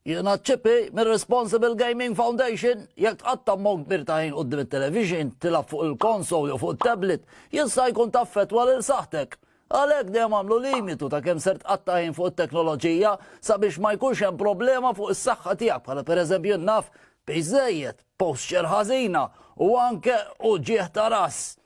Jiena ċipi mir-Responsible Gaming Foundation jekk tqatta' ammont kbir ta' ħin quddiem it-television, tilgħab fuq il-konsol jew fuq it-tablet, jista' jkun taffettwa lil saħħtek. Għalhekk dejjem agħmlu limitu ta' kemm ser tqatta' ħin fuq it-teknoloġija sabiex ma jkunx hemm problema fuq is-saħħa tiegħek bħala pereżempju naf, piż żejjed, posture ħażina u anke uġigħ ta' ras.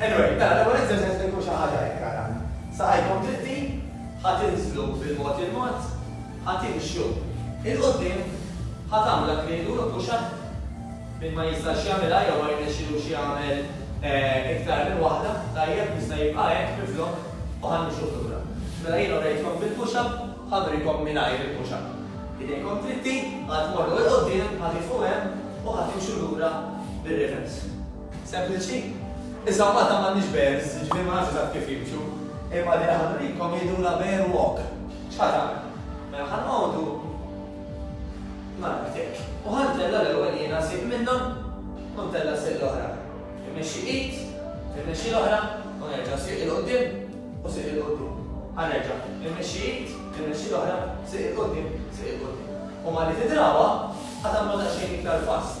Anyway, mela l-ewwel eżerċizzju se jkun xi ħaġa hekk ara. Saqajkom dritti, ħa tinżlu bil-mod il-mod, ħa timxu 'il quddiem, ħa tagħmlu dak li ngħidulu push up, min ma jistax jagħmilha jew ma jirnexxilux jagħmel iktar minn waħda, tajjeb, jista' jibqa' hekk miflok u ħa nimxuh lura. Mela jiena urejtkom bil-push up, ħa nurikom mingħajr il-push up. Idejkom dritti, ħa tmorru 'il quddiem, ħa tifqu hemm u ħa timxu lura bir-reverse. Sempliċi. Issa Malta m'għandhiex bears, jiġifieri ma nafx eżatt kif jimxu. Imma li aħna nrikom jgħidulha bear walk. X'ħa tagħmel? Mela ħa noqogħdu nagħmel hekk. U ħa ntella' l-ewwel jiena sieq minnhom u ntella' sieq l-oħra. Immexxi id, immexxi l-oħra u nerġa' sieq 'il quddiem u sieq 'il quddiem. Ħa nerġa'. Immexxi id, immexxi l-oħra, sieq 'il quddiem, sieq 'il quddiem. U malli tidrawha, ħa tagħmlu daqsxejn iktar fast.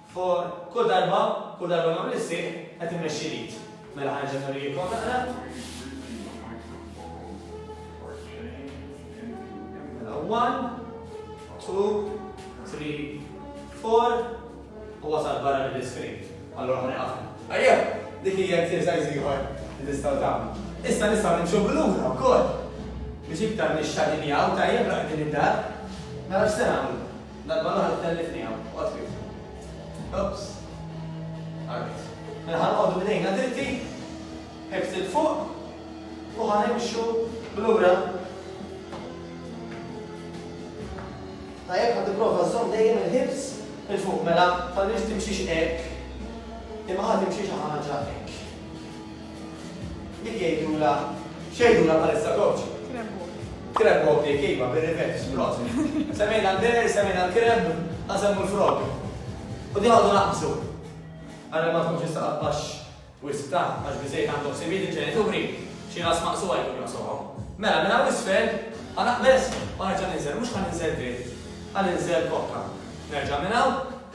For, Kull darba, kull darba nagħmel is-sieħ, qed immexxi l-id. Mela ħa nerġa' nurijikom naqra. Mela 1, 2, 3, 4, u wasal barra mill-iskrin. Allora ħa neqaf. Ejja, dik hija exercise ieħor li tistgħu tagħmlu. Issa nistgħu nimxu bil-lura wkoll. Biex iktar nixxadinjaw tajjeb raqdin id-dar, nara x'se nagħmlu. Darba l-oħra tellifniha, oqgħod kif. Oops. Ara kif. Mela ħa noqogħdu b'idejna dritti, ħift il fuq, u ħa nimxu lura. Tajjeb ħa tipprova żżomm dejjem il-ħibs il fuq mela, falli timxix hekk. Imma ħa timxi xi ħaġa hekk. Dik jgħidulha, x'jgħidulha bħalissa coach? Kremb walk. Kremb walk jgħid iva, bir-rivers, prosit. Semmejna l-bear, semmejna l-kremb, ħa nsemmu l-frog. U din għadu naqbżu. Ara ma tkunx tista' taqbax wisq ta' għax biżejjed għandhom sibid il-ġenituri xi ras maqsuha jkun jaqsuhom. Mela minn hawn isfel ħa naqbeż u nerġa' ninżel, mhux ħa ninżel dritt, ħa ninżel kokka. Nerġa' minn hawn.